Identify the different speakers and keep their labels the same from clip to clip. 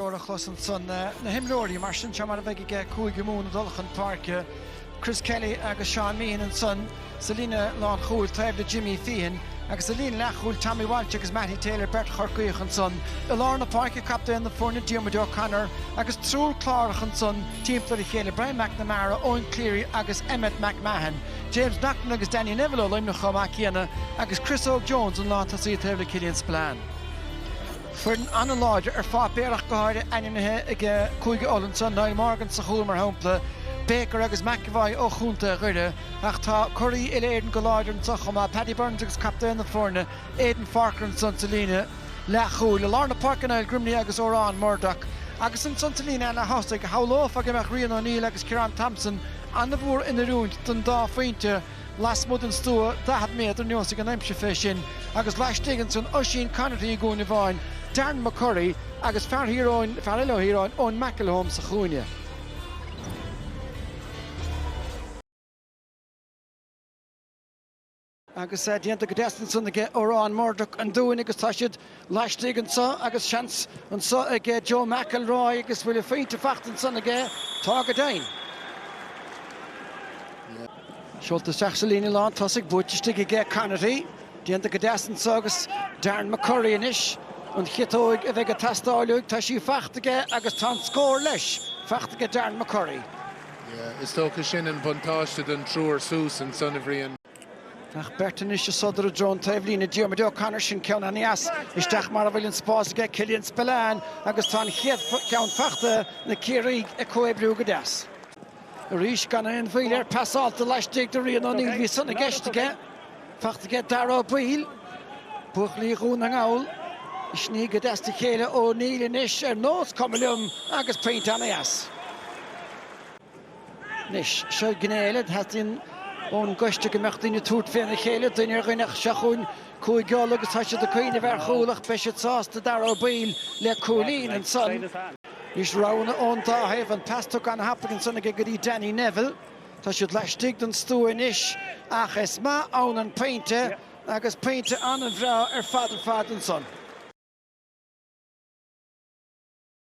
Speaker 1: Nuair a chlos ansan na himreoirí, mar sin, seo mar a bheidh aige Cúige Mumhan ag dul chun páirce, Chris Kelly agus Seán Meehan ansan sa líne lánchúil taobh le Jimmy Feehan agus sa líne leathchúil Tommy Walsh agus Mattie Taylor, beirt Chorcaíoch, ansan i lár na páirce, captaen na foirne, Diarmuid O'Connor, agus triúr Clárach ansan timpeall ar a chéile, Brian McNamara, Eoin Cleary agus Emmet McMahon, James Naughton agus Danny Neville ó Luimneach chomh maith céanna agus Chris Óg Jones an lántosaí taobh le Killian Spillane. foireann an-láidir ar pháipéar ach go háirithe, ainmnithe ag Cúige Uladh anseo, Niall Morgan sa chúl, mar shampla, Baker agus McEvoy ó chontae Dhoire, ach tá curaí uile-Éireann go láidir anseo chomh maith, Paddy Burns agus captaen na foirne, Aidan Forker anseo sa líne leathchúil. I lár na páirce, Niall Grimley agus Odhrán Murdock. Agus anseo sa líne leath-thosaigh, shamhlófá go mbeadh Rian O'Neill agus Ciarán Thompson an-mhór in oiriúint don dá phointe, Lasmuigh den stua daichead méadar neosfaidh an aimsir fé sin, agus laistigh ansan Oisín Conaty i gcúinne amháin, Darren McCurry agus fear Thír Eoghain, fear eile ó Thír Eoghain, Eoin McElholm sa chúinne. Agus déanta go deas ansan ag Odhrán Murdock an Dúin agus tá siad laistigh anseo agus seans anseo ag Joe McElroy agus bhfuil a phointe faighte ansan aige? Tá go deimhin. Seolta isteach sa líne lán tosaigh, buaite istigh aige Conaty. Déanta go deas anseo agus Darren McCurry anois. An chiotóig a bheidh ag teastáil uaidh, tá sí faighte aige agus tá an scór leis, faighte aige Darren McCurry. Is
Speaker 2: dócha sin an buntáiste don triúr suas ansan, a Bhriain. Ach
Speaker 1: beirt anois ag sodar i dtreo an taobhlíne, Diarmuid O'Connor, sin ceann an-dheas isteach mar a bhfuil an spás aige, Killian Spillane, agus tá an chéad cheann faighte, na Ciarraígh ag comhoibriú go deas. Arís gan aon mhoill air, pasálta laistigh do Rian O'Neill, bhí san i gceist aige, faighte aige Dáire Ó Baoill, buachaillí Dhún na nGall ag sní go deas de chéile O'Neill anois ar nós cuma liom agus pointe an-dheas. Anois, seo gné eile a theastaíonn ón gCoiste, go mbeadh daoine ag tabhairt féna chéile, duine ar dhuine, ach seo chugainn Cúige Uladh agus tá siad ag cuimhneamh ar chúl, ach beidh siad sásta, Dáire Ó Baoill le cúilín, ansan. Anois, roghanna ón dá thaobh, an pas tugtha an-thapaidh ansan aige go dtí Danny Neville. Tá siad laistigh den stua anois, ach is maith ann an pointe, agus pointe an-bhreá ar fad ar fad ansan.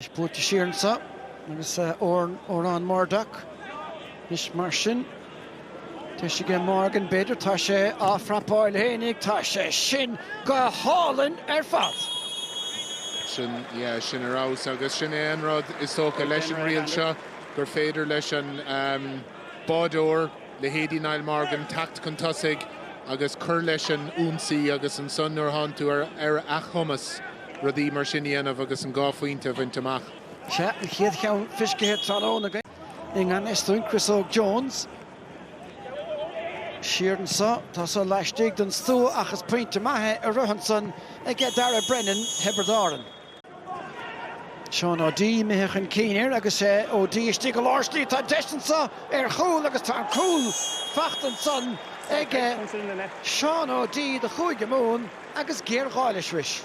Speaker 1: Is buailte siar anseo agus Odhrán Murdock. Anois mar sin, tá sé aige Morgan b'fhéidir. Tá sé á phrapáil féinig. Tá sé sin go hálainn ar
Speaker 2: fad! Sin, yeah, sin ar fheabhas agus sin é an rud is dócha leis an riail seo, gur féidir leis an bádóir. leithéidí Niall Morgan, teacht chun tosaigh agus cur leis an ionsaí agus ansan nuair a théann tú ar a chumas rudaí mar sin a dhéanamh agus an dhá phointe a bhaint amach. Sea, an chéad
Speaker 1: cheann fiscithe tráthnóna againn i ngan fhios dúinn, Chris Óg Jones. Siar anso, tá sé laistigh den stua ach is pointe maith é arís ansan aige Darragh Brennan, Thiobraid Árann. Seán Ó D imithe chun cinn air agus é Ó D istigh go lár slí. Tá deis anso ar chúl agus tá an cúl faighte ansan ag Seán Ó D do Chúige Mumhan agus géarghá leis arís.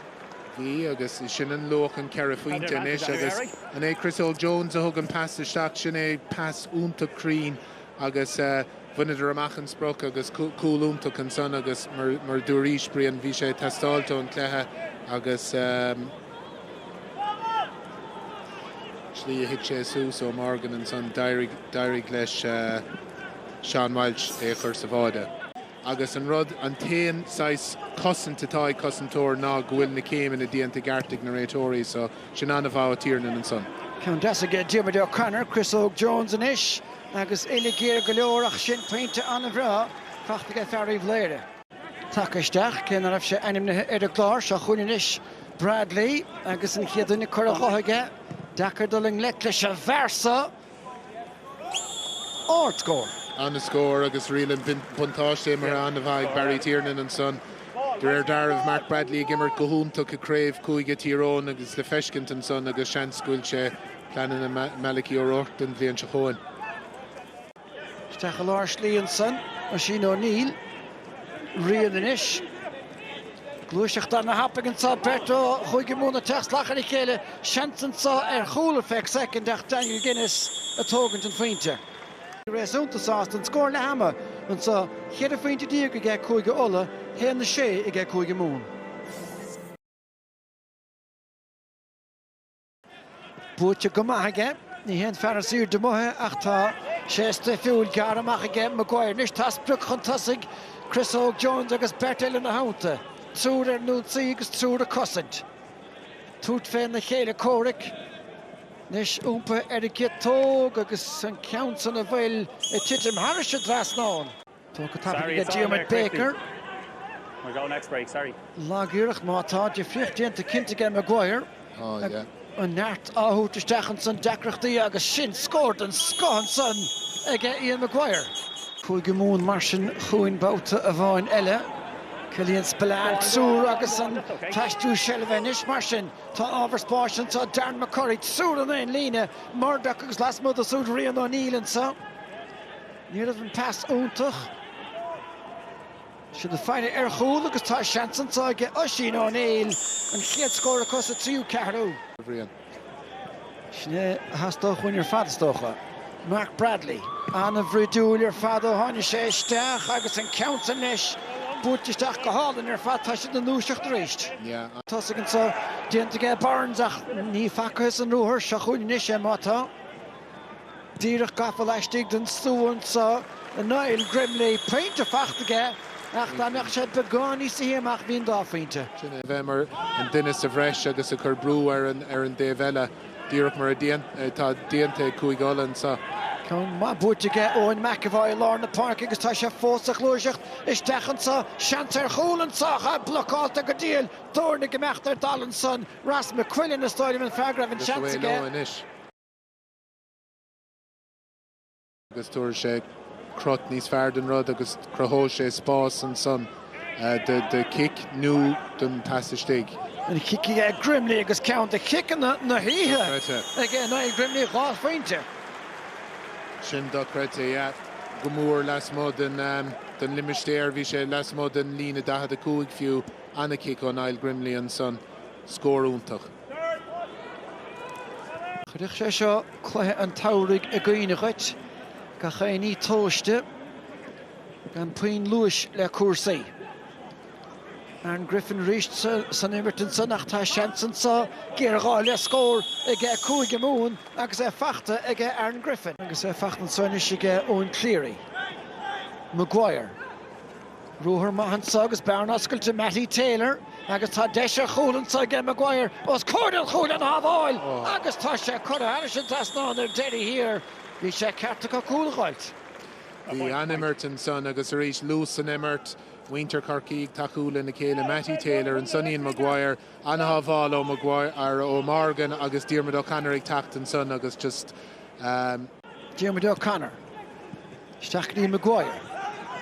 Speaker 1: Bhí,
Speaker 2: agus sin an luach, an ceithre phointe anois agus an é Chris Óg-Jones a thug an pas isteach? Sin é, pas iontach cruinn agus bhaineadar amach an sprioc agus cúl iontach ansan agus mar a dúraís Brian bhí sé ag teastáil ón gcluiche agus slí a thit sé suas ó Morgan ansan d'éirigh leis Seán Walsh é a chur sa bháide. Agus an rud, an t-aon saghas cosaint atá ag cosantóir ná go bhfuil na céimeanna déanta i gceart ag na réiteoirí so sin an-mhaith ó Tiernan ansan. Ceann deas aige Diarmuid
Speaker 1: O'Connor, Chris Óg Jones anois agus uillinn ghéar go leor ach sin pointe an-bhreá faighte aige fear Uíbh Laoire. Tagtha isteach, cé ná raibh sé ainmnithe ar an gclár seo chugainn anois, Bradley agus an chéad duine curtha dhe aige. Deacair dul i ngleic leis an bhfear so! Ardscór.
Speaker 2: An-scór agus riail an bhuntáiste imeartha an-mhaith ag Barry Tiernan ansan. De réir dealraimh, Mark Bradley ag imirt go hiontach i gCraobh Cúige, Tír Eoghain agus le feiscint ansan agus seans go bhfuil sé i bpleananna Malachy O'Rourke don bhliain seo chugainn.
Speaker 1: Isteach i lár slí ansan, Oisín O'Neill. Rian anois. Gluaiseacht ana-thapaidh anso. Beirt ó Chúige Mumhan ag teacht salach ar a chéile, seans anseo ar chúl ar feadh soicind ach Daniel Guinness ag tógaint an phointe. réasúnta sásta, an scór leath ama anseo, cheithre phointe déag ag ag Cúige Uladh, a haon a sé ag ag Cúige Mumhan. Buaite go maith aige. Ní haon fear is airde amuigh é ach tá sé stuifiúil. Gearrtha amach aige Maguire anois. Tá sprioc chun tosaigh, Chris Óg Jones agus beirt eile ina theannta. Triúr ar an ionsaí agus triúr ag cosaint. Tabhairt féna chéile comhraic anois iompaithe ar an gciotóg agus an ceann san an bhfuil ag titim thairis an dtrasnán. Tá go tapaidh aige Diarmaid
Speaker 3: Baker. Lagiarracht, ach
Speaker 1: tá difríocht déanta cinnte aige Maguire.
Speaker 2: An neart á
Speaker 1: thabhairt isteach ansan, deacrachtaí agus sin scór den scoth ansan aige Ian Maguire. Cúige Mumhan mar sin chugainn babhta amháin eile. Killian Spillane soir agus an t-aistriú seilbhe anois mar sin. Tá ábhar spáis anso, Darren McCurry soir ar an líne, Murdoch agus lasmuigh de súid Rian O'Neill anso. Ní raibh an pas iontach. Siad ag faire ar chúl agus tá seans anso aige Oisín Ó Néill an chéad scór acu sa tríú ceathrú. Sin é a theastódh uainn ar fad, is dócha. Mark Bradley, an-bhroidiúil ar fad ó tháini' sé isteach agus an ceann san leis buailte isteach go hálainn ar fad. Tá siad ina ndúiseacht aríst. Tosaigh anso déanta aige Burns ach ní facthas an ruathar seo chugainn anois é má tá. Díreach gafa laistigh den stua anso Niall Grimley. Pointe fachta aige ach dá mbeadh sé beagáinín níos sia amach bhí an dá phointe. Sin é a bheith mar
Speaker 2: an duine sa bhreis agus ag cur brú ar an dtaobh eile, díreach mar atá déanta ag Cúige Uladh anso. Ceann maith
Speaker 1: buaite aige Eoin McEvoy i lár na páirce agus tá sé fós sa ghluaiseacht isteach anso. Seans ar chúl anso ach é blocáilte go diail. Doirne ag imeacht ar dalladh ansan. Ross McQuillan is dóigh liom an fear go raibh an seans aige.
Speaker 2: agus tabharfaidh sé crot níos fearr den rud agus cruthóidh sé spás ansan do chic nó don té atá istigh. An-chic aige
Speaker 1: Grimley agus ceann de chiceanna na hoíche ag Niall Grimley, dhá
Speaker 2: phointe. Sin dochreidte, yeah. Go mór lasmuigh den um, den limistéar, bhí sé lasmuigh den líne 45 fiú, ana-chic ó Niall Grimley ansan, scór iontach.
Speaker 1: Chuirfeadh sé seo cluiche an tsamhraidh i gcuimhne dhuit, gach aon ní tomhaiste, gan puinn luais le cúrsaí. Aaron Griffin arís san imirt ansan ach tá seans anso, géarghá le scór aige Cúige Mumhan agus é fachta aige Aaron Griffin agus é fachta anso anois aige Eoin Cleary. Maguire. Ruathar maith anso agus bearna oscailte Mattie Taylor agus tá deis ar chúl anso aige Maguire os comhair an chúil ana-shábháil agus tá sé curtha thairis an trasnán ar deireadh thiar. Bhí sé ceart acu cúl a fháilt.
Speaker 2: Bhí an-imirt ansan agus arís luas san imirt. Muintir Chorcaí ag tacú lena chéile, Mattie Taylor, ansan Ian Maguire, an-shábháil ó Maguire, ó Morgan agus Diarmuid O'Connor ag teacht ansan agus just.
Speaker 1: Diarmuid O'Connor, isteach chun Maguire,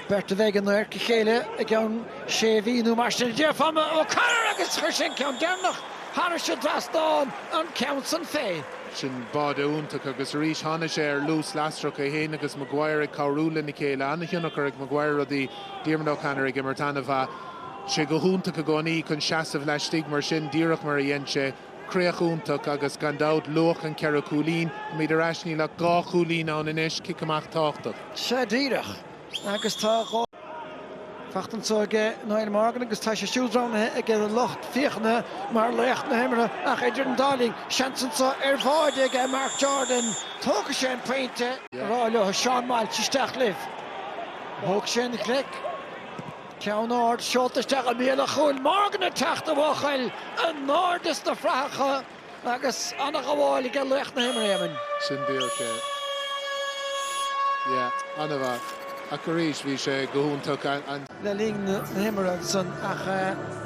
Speaker 1: beirt a bheidh in adharca a chéile i gceann sé mhí nó mar sin, a déarfá. O'Connor, Agus chuir sé an ceann deireanach thairis an dtrasnán an ceann san fé. Sin
Speaker 2: báide iontach. Agus arís tháinig sé ar luas lasrach, é féin agus Maguire ag cabhrú lena chéile. An-tionchar ag Maguire ar rudaí, Diarmuid O'Connor ag imirt an-mhaith. sé go hiontach i gcónaí chun seasamh laistigh mar sin, díreach mar a dhein sé. Críoch iontach, agus gan dabht luach an cheithre chúilín. Táimid ar ais, níl ach dhá chúilín ann anois, cic amach tábhachtach. Sea, díreach.
Speaker 1: Agus tá fachta anso ag Niall Morgan agus tá sé siúd roghnaithe aige lucht féachana mar laoch na himeartha ach idir an dá linn, seans anso ar bháide ag Marc Jordan. Tógfaidh sé an pointe. Rá leo, Seán Walsh isteach libh. Thóg sé an-ghlic. Ceann ard, seolta isteach i mbéal an chúil Morgan ag teacht a bhuachaill in airde sna fraitheacha agus an-ghabháil aige laoch na himeartha Éamonn. Sin díreach é.
Speaker 2: Yeah, an-mhaith. Ach arís, bhí sé go hiontach an. le linn
Speaker 1: na himeartha san ach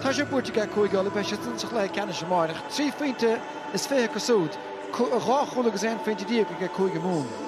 Speaker 1: tá sé buaite aige Cúige Uladh, beidh siadsan sa chluiche ceannais amárach. Trí phointe is fiche acu súd, dhá chúl agus aon phointe déag aige cúige Mumhan.